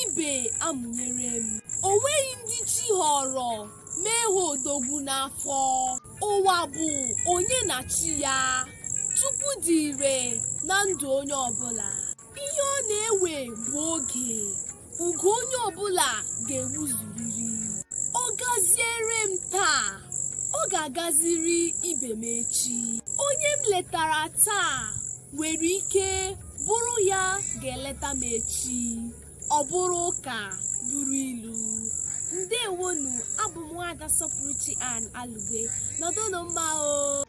ibe amụnyere m o nweghị ndị chi họrọ mee ha odogwu n'afọ ụwa bụ onye na chi ya chukwu dị ire na ndụ onye ọbụla ihe ọ na-ewe bụ oge oge onye ọbụla ga-ewuzuriri ọ gaziere m taa ọ ga-agaziri ibe m echi onye m letara taa nwere ike bụrụ ya ga-eleta m echi ọ bụrụ ụka bụrụ ilu ndewonụ abụ m nwaada sọpụrụchi an alugwe nọdụnụ mma o